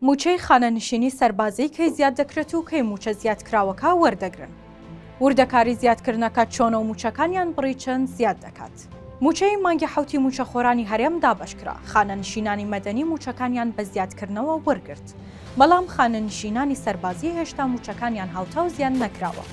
مووچەی خانەنشینی سەربازی کەی زیاد دەکرێت و کەی مووچە زیادکراوەکە وەردەگرن؟ وردەکاری زیادکردنەکە چۆنە و مووچەکانیان بڕی چەند زیاد دەکات؟ مووچەی مانگی حەوتی مووچەخۆرانی هەرێم دابەشکرا، خانەنشینانی مەدەنی مووچەکانیان بە زیادکردنەوە وەرگرت، بەڵام خانەنشینانی سەربازی هێشتا مووچەکانیان هاوتاو زیاد نەکراوە.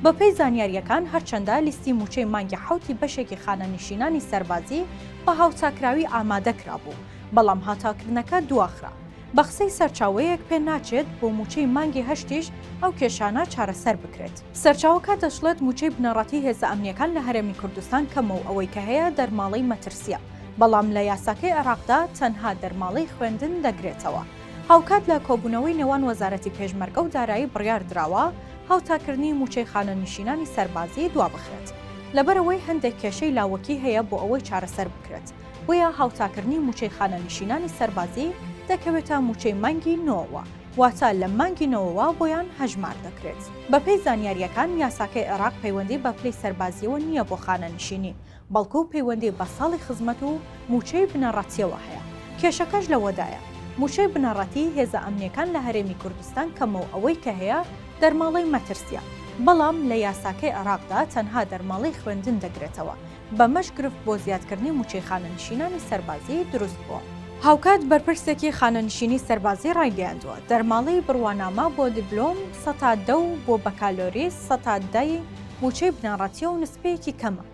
بەپێی زانیارییەکان، هەرچەندە لیستی مووچەی مانگی حەوتی بەشێکی خانەنشینانی سەربازی بە هاوتاکراوی ئامادە کرابوو، بەڵام هاتاکردنەکە دواخرا. بە قسەی سەرچاوەیەک پێ ناچێت بۆ مووچەی مانگی هەشتیش ئەو کێشانە چارەسەر بکرێت. سەرچاوەکە دەشڵێت مووچەی بنەڕەتی هێزە ئەمنییەکان لە هەرێمی کوردستان کەمە و ئەوەی کە هەیە دەرماڵەی مەترسییە، بەڵام لە یاساکەی عێراقدا تەنها دەرماڵەی خوێندن دەگرێتەوە. هاوکات لە کۆبوونەوەی نێوان وەزارەتی پێشمەرگە و دارایی بڕیار دراوە هاوتاکردنی مووچەی خانەنشینانی سەربازی دوابخرێت، لەبەرئەوەی هەندێک کێشەی لاوەکی هەیە بۆ ئەوەی چارەسەر بکرێت. بۆیە هاوتاکردنی مووچەی خانەنشینانی سەربازی دەکەوێتە مووچەی مانگی نۆوەوە، واتە لە مانگی نۆوەوە بۆیان هەژمار دەکرێت. بەپێی زانیارییەکان، یاساکەی عێراق پەیوەندی بە پلەی سەربازییەوە نییە بۆ خانەنشینی، بەڵکو پەیوەندی بە ساڵی خزمەت و مووچەی بنەڕەتییەوە هەیە. کێشەکەش لەوەدایە، مووچەی بنەڕەتی هێزە ئەمنییەکان لە هەرێمی کوردستان کەمە و ئەوەی کە هەیە دەرماڵەی مەترسییە، بەڵام لە یاساکەی عێراقدا تەنها دەرماڵەی خوێندن دەگرێتەوە، بەمەش گرفت بۆ زیادکردنی مووچەی خانەنشینانی سەربازی دروست بووە. هاوکات بەرپرسێکی خانەنشینی سەربازی ڕایگەیاندووە، دەرماڵەی بڕوانامە بۆ دیبلۆم سەتا دە و بۆ بەکالۆریس سەتا دە ی مووچەی بنەڕەتییە و نسبەیەکی کەمە.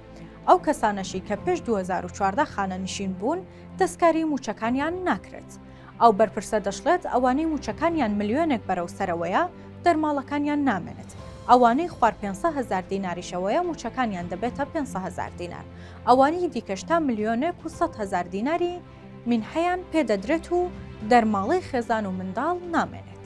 ئەو کەسانەشی کە پێش دوو هەزار و چواردە خانەنشین بوون، دەستکاریی مووچەکانیان ناکرێت. ئەو بەرپرسە دەشڵێت، ئەوانەی مووچەکانیان ملیۆنێک بەرەو سەرەوەیە، دەرماڵەکانیان نامێنێت، ئەوانەی خوار پێنج سەد هەزار دیناریشەوەیە مووچەکانیان دەبێتە پێنج سەد هەزار دینار، ئەوانەی دیکەش تا ملیۆنێک و سەد هەزار دیناری مینحەیان پێ دەدرێت و دەرماڵەی خێزان و منداڵ نامێنێت.